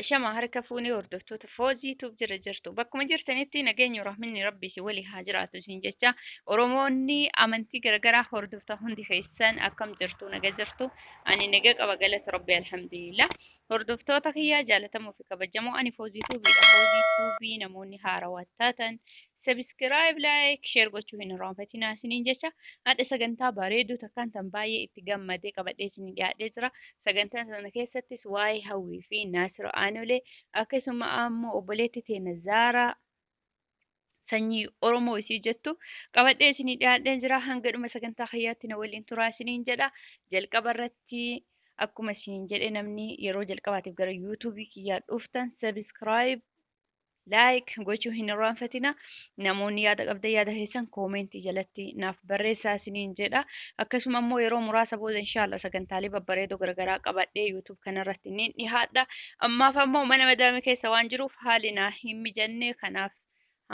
Ashama harka fuunee hordoftoota Foozii Tube jira jirtu. Bakkuma jirtanitti nageenyi rahminni rabbii si walii haa jiraatu isin jecha Oromoonni amantii garagaraa hordoftan hundi keessan akkam jirtu naga jirtu ani naga qaba galata rabbii alhamdulillah. Hordoftoota kiyyaa jaalatamoo fi kabajamoo ani Foozii Tuubiidha. Foozii Tuubii namoonni haarawaa taatan Subscribe, like, share gochuu hin irraanfatinaa isiniin jecha hadha sagantaa bareedduu takkaan tan baay'ee itti gammadee qabadhee isinii dhiyaadhee jira. Sagantaa sana keessattis waa'ee hawwii fi naasira aanolee akkasuma ammoo obboleetti teena zaaraa sanyii Oromoo isii jettu qabadhee isinii dhiyaadhee jira. Hanga dhuma sagantaa kiyyaatti na waliin turaa isiniin jedha. Jalqaba irratti akkuma isiniin jedhe namni yeroo jalqabaatiif gara yuutuubii kiyyaa dhuftan subscribe like gochuu hin irraanfatina namoonni yaada qabda yaada keessan koomentii jalatti naaf barreessaa isiniin jedha akkasuma immoo yeroo muraasa booda inshaalla sagantaalee babbareedoo garagaraa qabadhee yuutuub kanarratti ni dhihaadha ammaaf ammoo mana madaami keessa waan jiruuf haali naa hin mijanne kanaaf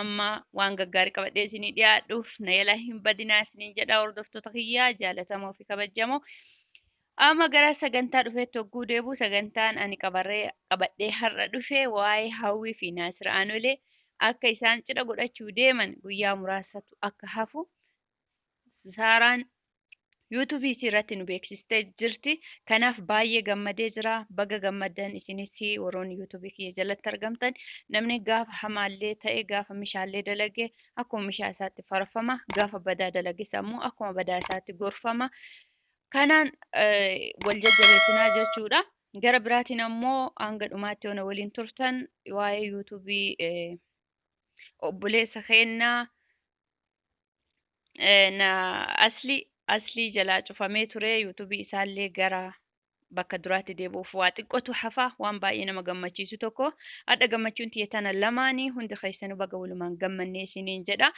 amma waan gaggaarii qabadhee isinii dhiyaadhuuf na yala hin badinaa isiniin jedha hordoftoota kiyyaa jaalatamoo fi kabajamoo Amma gara sagantaa dhufeetti hogguu deebi'u sagantaan ani qabarree- qabadhee har'a dhufe waa'ee Hawwii fi Naasir Aanolee akka isaan cidha godhachuu deeman guyyaa muraasatu akka hafu Saaraan yuutuubii isii irratti nu beeksistee jirti. Kanaaf baay'ee gammadee jira. Baga gammaddan isinis warroonni yuutuubii kiyya jalatti argamtan namni gaafa hamaallee ta'e gaafa mishaallee dalage akkuma mishaa isaatti farfama gaafa badaa dalages ammoo akkuma badaa isaatti gorfama. Kanaan wal jajjabeessinaa jechuudha. Gara biraatiin ammoo hanga dhumaatti yoo na waliin turtan waa'ee yuutuubii obboleessa keennaa na asli aslii jalaa cufamee ture yuutuubii isaallee gara bakka duraatti deebi'uuf waa xiqqootu hafa waan baay'ee nama gammachiisu tokko hadha gammachuun tiyya tana lamaanii hundi keessanuu baga walumaan gammannee isiniin jedha.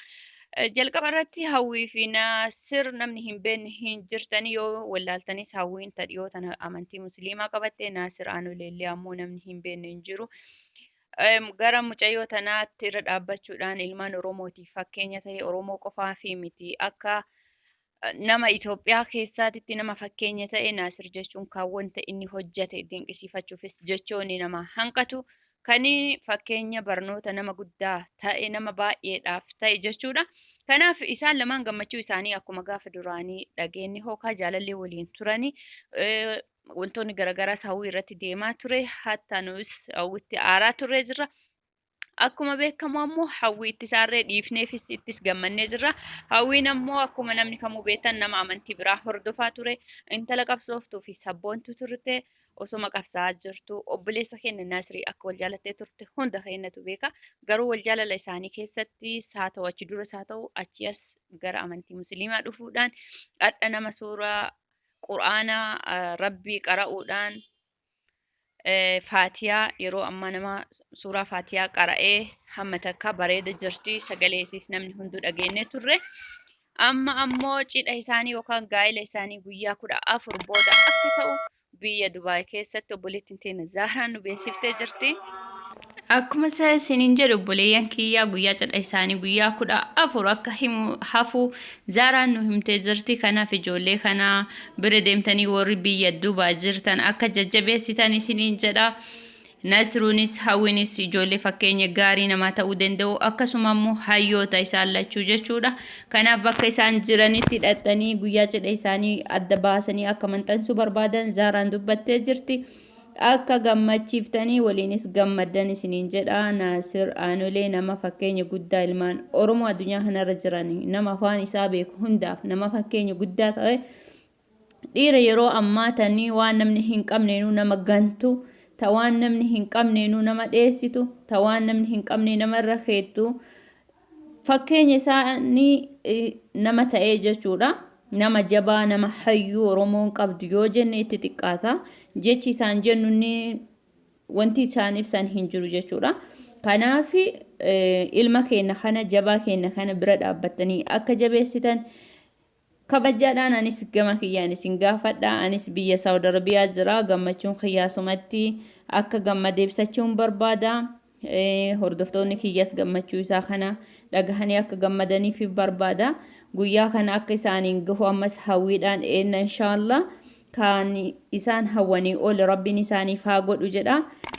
Jalqaba irratti hawwii fi naasir namni hin beekne hin jirtanii yoo wallaaltanis hawwiin ta dhiyoo tana amantii musliimaa qabatte naasir aanoleellee ammoo namni hin beekne hin jiru. Em, Gara mucayyoo tanaatti irra dhaabbachuudhaan ilmaan Oromootiif fakkeenya ta'e Oromoo qofaa fi miti akka nama Itoophiyaa keessaatitti nama fakkeenya ta'e Naasir jechuun kan wanta inni hojjate dinqisiifachuufis jechoonni nama hanqatu kan fakkeenya barnoota nama guddaa ta'e nama baay'eedhaaf ta'e jechuudha. Kanaaf isaan lamaan gammachuu isaanii akkuma gaafa duraanii dhageenye hookaa jaalallee waliin turanii wantoonni garaagaraas hawwii irratti deemaa ture hatta nus hawwitti aaraa turree jirra. Akkuma beekamu ammoo hawwii itti saarree dhiifneefis ittis gammannee jirra. Hawwiin ammoo akkuma namni kamuu beektan nama amantii biraa hordofaa ture, intala qabsooftuu fi sabboontu turte osoma qabsaa jirtu obboleessa keenya Nasrii akka wal jaalattee turte hunda keenyatu beeka. Garuu wal jaalala isaanii keessatti saa ta'u achi dura saa ta'u achi as gara amantii musliimaa dhufuudhaan hadha nama suuraa quraana rabbii qara'uudhaan faatiyaa yeroo ammaa nama suuraa faatiyaa qara'ee hamma takka bareeda jirti sagalee isiis namni hunduu dhageenye turre amma ammoo cidha isaanii yookaan gaa'ila isaanii guyyaa kudha afur booda akka ta'u biyya dubaay keessatti obboleettiin teena zaaraan nu beeksiftee jirti. Akkuma isa isiniin jedhe obboleeyyan kiyyaa guyyaa cidha isaanii guyyaa kudha afur akka himu hafu zaaraan nu himtee jirti kanaaf ijoollee kana bira deemtanii warri biyya duubaa jirtan akka jajjabeessitan isiniin jedha nasruunis hawwinis ijoollee fakkeenya gaarii namaa ta'uu danda'u akkasuma immoo hayyoota isaan lachuu jechuudha kanaaf bakka isaan jiranitti dhaqxanii guyyaa cidha isaanii adda baasanii akka maxxansuu barbaadan zaaraan dubbattee jirti. Akka gammachiiftanii waliinis gammaddan isiniin jedha. Naasir Aanolee nama fakkeenya guddaa ilmaan Oromoo addunyaa kanarra jiran nama afaan isaa beeku hundaaf nama fakkeenya guddaa ta'e dhiira yeroo ammaa tanii waan namni hin qabneenuu nama gantu ta waan namni hin qabneenuu nama dheessitu ta waan namni hin qabnee namarra keettu Fakkeenya isaanii nama ta'ee jechuudha. Nama jabaa, nama hayyuu Oromoon qabdu yoo jenne itti xiqqaata. Jechi isaan jennu inni wanti isaan ibsan hin jiru jechuudha. Kanaaf ilma keenya kana jabaa keenya kana bira dhaabbattanii akka jabeessitan Kabajaadhaan anis gama kiyyaan isin gaafadha. Anis biyya Saawud Arabiyaa jira. Gammachuun kiyya asumatti akka gammade ibsachuun barbaada. Eh, Hordoftoonni kiyyas gammachuu isaa kana dhagahanii akka gammadaniif barbaada. Guyyaa kana akka isaaniin gahu ammas hawwiidhaan eenna inshaallah. Kan isaan hawwanii ol Rabbiin isaaniif haa godhu jedha.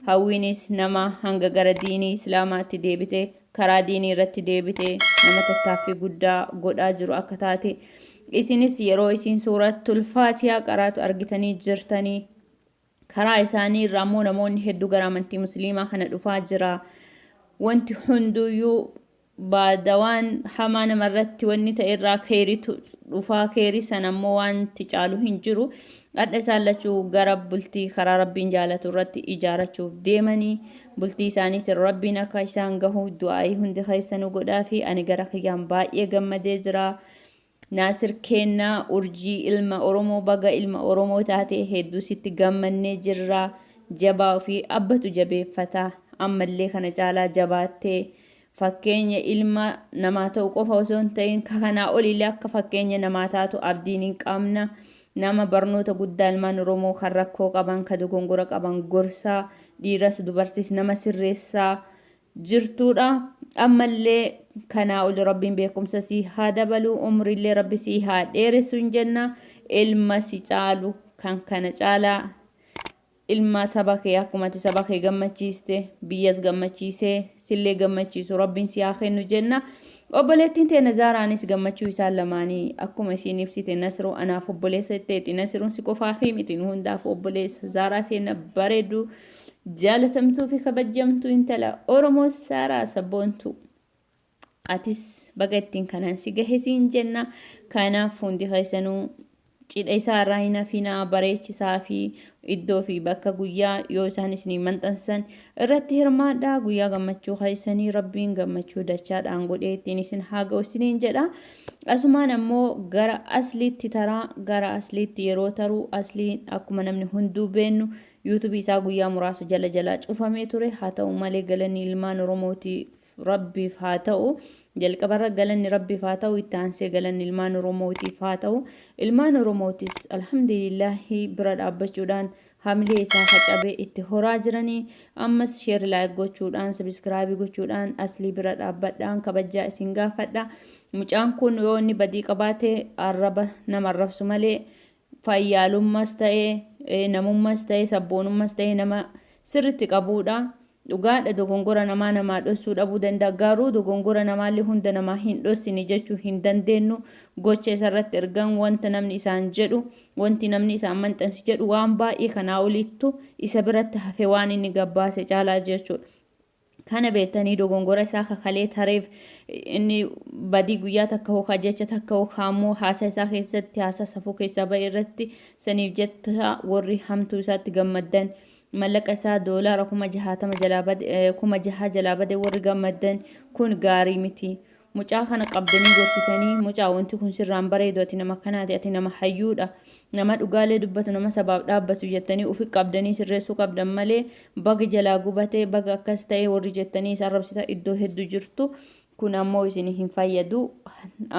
Hawwiinis nama hanga gara diinii Islaamaatti deebite, karaa diinii irratti deebite, nama tattaaffii guddaa godhaa jiru akka taate. Isinis yeroo isiin suuratul Faatiyaa qaraatu argitanii jirtanii. Karaa isaanii irraa immoo namoonni hedduu gara amantii Musliimaa kana dhufaa jira. Wanti hunduyyuu baada waan hamaa nama irratti wanni ta'e irraa keeritu dhufaa keeri san ammoo wanti caalu hin jiru hadha isaan lachuu gara bultii karaa rabbiin jaalatu irratti ijaarachuuf deemanii bultii isaaniitiin rabbiin akka isaan gahu du'aa'ii hundi keessanu godhaa fi ani gara kiyyaan baay'ee gammadee jira Naasir keenna urjii ilma oromoo baga ilma oromoo taate hedduu sitti gammannee jirra jabaa ofii abbatu jabeeffata ammallee kana caalaa jabaattee fakkeenya ilma namaa ta'u qofa osoo hin ta'in ka kanaa oliillee akka fakkeenya namaa taatu abdiin hin qabna nama barnoota guddaa ilmaan oromoo kan rakkoo qaban ka dogongora qaban gorsaa dhiiras dubartis nama sirreessaa jirtuudha ammallee kanaa oli rabbiin beekumsa sii haa dabaluu umriillee rabbi sii haa dheeressu hin jenna ilma si caalu kan kana caalaa ilma saba kee akkuma ati saba kee gammachiiste biyyas gammachiisee sillee gammachiisu rabbiin si haa kennu jenna obboleettiin teena zaaraanis gammachuu isaan lamaanii akkuma isiin ibsite nasru anaaf obboleessa itteeti nasruun si qofaafii miti nu hundaaf obboleessa zaaraa teena bareedu Jaalatamtuu fi kabajjamtuu intala Oromoo Saaraa Sabboontuu. Atis baga ittiin kanaan si gahe siin jenna. Kanaaf hundi keessanuu cidha isaa irraa hin hafinaa bareechisaa fi iddoo fi bakka guyyaa yoo isaan isinii maxxansan irratti hirmaadhaa guyyaa gammachuu keessanii rabbiin gammachuu dachaadhaan godhee ittiin isin haa ga'u isiniin jedha. Asumaan ammoo gara asliitti taraa gara asliitti yeroo taruu asliin akkuma namni hunduu beennu YouTube isaa guyyaa muraasa jala jalaa cufamee ture. Haa ta'u malee galanni ilmaan Oromootiif Rabbiif haa ta'u. Jalqabarra galanni Rabbiif haa ta'u, itti aansee galanni ilmaan Oromootiif haa ta'u. Ilmaan Oromootis alhamdulillahi bira dhaabbachuudhaan hamilee isaa facabe itti horaa jiranii. Ammas sheer laayik gochuudhaan, sabiskiraabii gochuudhaan aslii bira dhaabbadhaan kabajjaa isin gaafadha. Mucaan kun yoo inni badii qabaate arraba nama arrabsu malee fayyaalummas ta'e, namummas ta'e, sabboonummas ta'e nama sirritti qabuudha. Dhugaadha dogongora namaa namaa dhossuu dhabuu danda'a. Garuu dogongora namaallee hunda namaa hin dhossine jechuu hin dandeennu. Gocha isarratti ergan wanta namni isaan jedhu, wanti namni isaan maxxansi jedhu waan baay'ee kanaa oliittu isa biratti hafe waan inni gabbaase caalaa jechuudha. Kana beettanii dogongora isaa ka kalee tareef inni badii guyyaa takka hoo ka jecha takka hoo ka ammoo haasaa isaa keessatti haasaa safuu keessaa ba'e irratti saniif jetta warri hamtuu isaatti gammaddan mallaqa isaa doolaara kuma jahaatama jalaa bade kuma jahaa jalaa bade warri gammaddan kun gaarii miti. Mucaa kana qabdanii gorsitanii mucaa wanti kun sirraa hin bareedu ati nama kanaati ati nama hayyuudha nama dhugaalee dubbatu nama sabaaf dhaabbatu jettanii ufi qabdanii sirreessuu qabdan malee baga jalaa gubatee baga akkas ta'ee warri jettanii isa arrabsita iddoo heddu jirtu kun ammoo isin hin fayyadu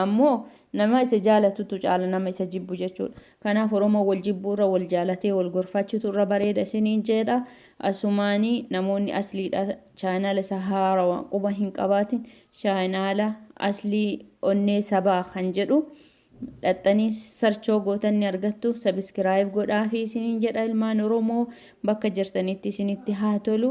ammoo nama isa jaalatutu caala nama isa jibbu jechuudha kanaaf oromoo wal jibbuu irra wal jaalatee wal gorfaachutu irra bareeda isiniin jeedha asumaanii namoonni asliidha chaanaala isa haarawa quba hin qabaatin Chaayinaala aslii onnee sabaa kan jedhu dhaxxanii sarchoo gootan ni argattu sabiskiraayib godhaafi isiniin jedha ilmaan oromoo bakka jirtanitti isinitti haa tolu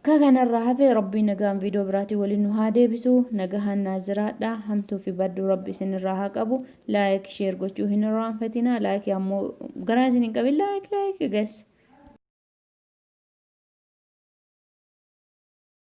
ka kanarraa hafe rabbii nagaan viidoo biraatii waliin nu haa deebisu nagahaan naa jiraadha hamtuu fi badduu rabbi isinirraa haa qabu laayik sheer gochuu hin irraanfatina laayik ammoo garaa isin hin qabin laayik laayik gas